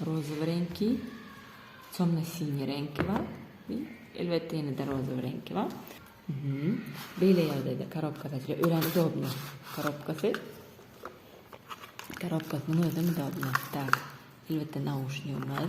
rozowy reňki, temno-siňi reňki bar we elbetde ýene-de rozowy reňki bar. Beýle ýagdaýda korobkasy juda örän udobny. Korobkasy korobkasynyň özem udobny. Tak, elbetde nauşnigim bar.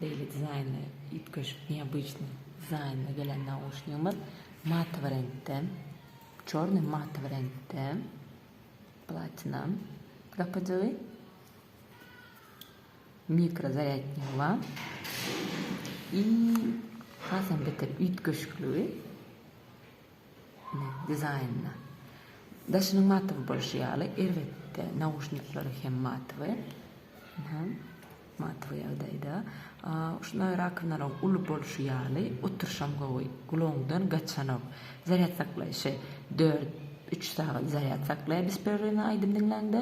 Beýle dizaýnly, üýtgeşik, neobычnyý dizaýnda gelen nauşnigimiz matowy reňkde, çornyý matowy reňkde, platina gapajygy, mikro zarýadnigy bar i hasam beter üýtgeşikligi. dizaýnyna. Daşynyň matywy bolşy ýaly, erbetde nauşnikleriň hem matywy. Hä, matywy ýagdaýda. Uşyna rakowinalaryň uly bolşy ýaly, oturyşam gowy, gulagyňdan gaçanok. Zarýad saklaýşy dört, üç sagat zarýad saklaýar bespererwny aýdym diňläňde.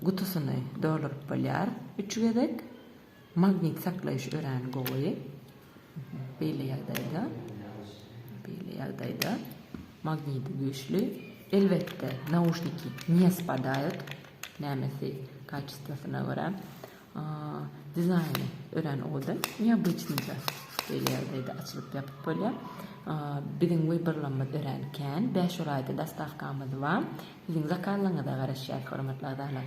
Gutusyny dolduryp bolýar üç gezek. Magnit saklaýyş örän gowy. Beýle ýagdaýda, beýle ýagdaýda magnidi güýçli. Elbetde, nauşniki ne spadaýot, nämesi kaçestwosyna görä. Dizaýny örän owadan, neobyçnyja. Beýle ýagdaýda açylyp-ýapyp bolýar. Biziň wyborlamyz örän kän, bäş oraýda dostawkamyz bar. Siziň zakazlaryňyza garaşýarys, hormatly agzalar.